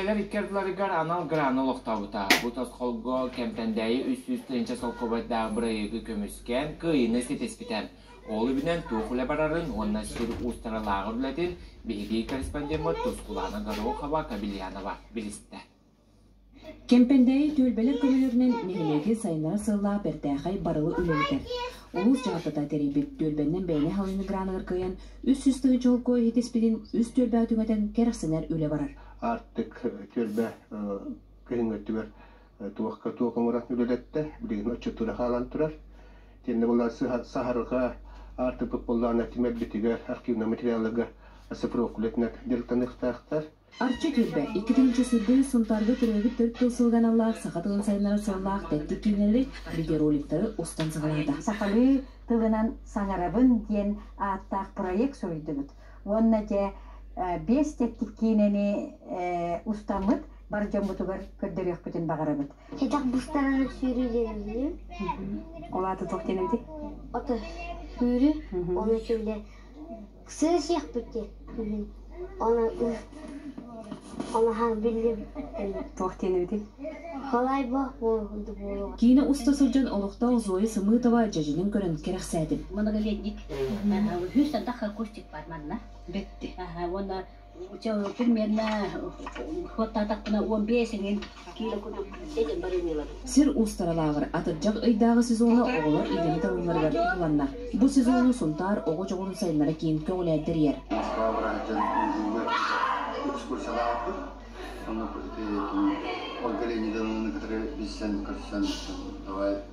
Кэлэр икки ардыларыгар анал грант олохтообута. Бу тосхолго Кэмтэндээйи үс сүүс тыһыынча солкуобайдаах бырайыагы көмүскээн, кыайыыны ситиспитэ. Ол үбүнэн туох үлэ барарын уонна сир уустаралааҕыр үлэтин биһирии корреспондеммыт Тускулаана Горохова Кабельянова билистэ. Кэмпэндээйи түөлбэлэр көмөлөрүнэн нэһилиэги сайыннарар сыаллаах бэртээхэй барылы үлэлэтэр. Улуус дьаһалтата тэрийбит түөлбэннэн бэйэни халыҥы граныгар кыайан, үс сүүс тыһыынча холкуос иһитиспитин үс түөлбэҕэ түҥэтэн кэрэхсэнэр үлэ барар. Аартык түөлбэ кыһыҥҥы өттүгэр туохка туох оҥорон үлэлэттэ, билигин оччотугар хаалан турар. Итиэннэ буоллар саһарҕа аартыкпыт буоллаҕына тимирбитигэр, архивнай материалларга сапрок үлэтинэн дьарыктаныахтаахтар. Арчы түөлбэ икки тыһыынча сырдыы Сунтаарга төрөөбүт төрүт тыл сылга аналлаах саха тылын сайыннарар сыаллаах тэттик киинэлэри, видеороликтары устан саҕалаата. Сахалыы тылынан саҥарабын диэн ааттаах проект суруйдубут. уонна дьэ биэс тэттик киинэни устаммыт бар дьоммутугар көрдөрүөхпүтүн баҕарабыт. Кэтэх бустараны сүүрүүлэрилии. Ол аата туох диэн эбитий? Ото сүүрүү, оны сүрлэ сыысыахпыт диэн. Оны Туох диэн эбитий? Киинэ уста сылдьан олохтоох Зоя Сымыытова дьэдьэнин көрөн кэрэхсээтим. Многолетник. Үһүс сандах кустик бар манна. Бетти. Уонна примерно ход атахпына он бесинин Сир устаралааҕыр атырдьах ыйдааҕы сезону оҕолор идэлии талалларыгар туһуланна. Бу сезону Сунтаар оҕо дьоҕурун сайыннара киин көҕүлээн тэрийэр. Муоста бырааһытын ыытыылар экскурсиялаахпыт. Онно Ольга Леонидовнаны кытары билсэн-көрсөн давай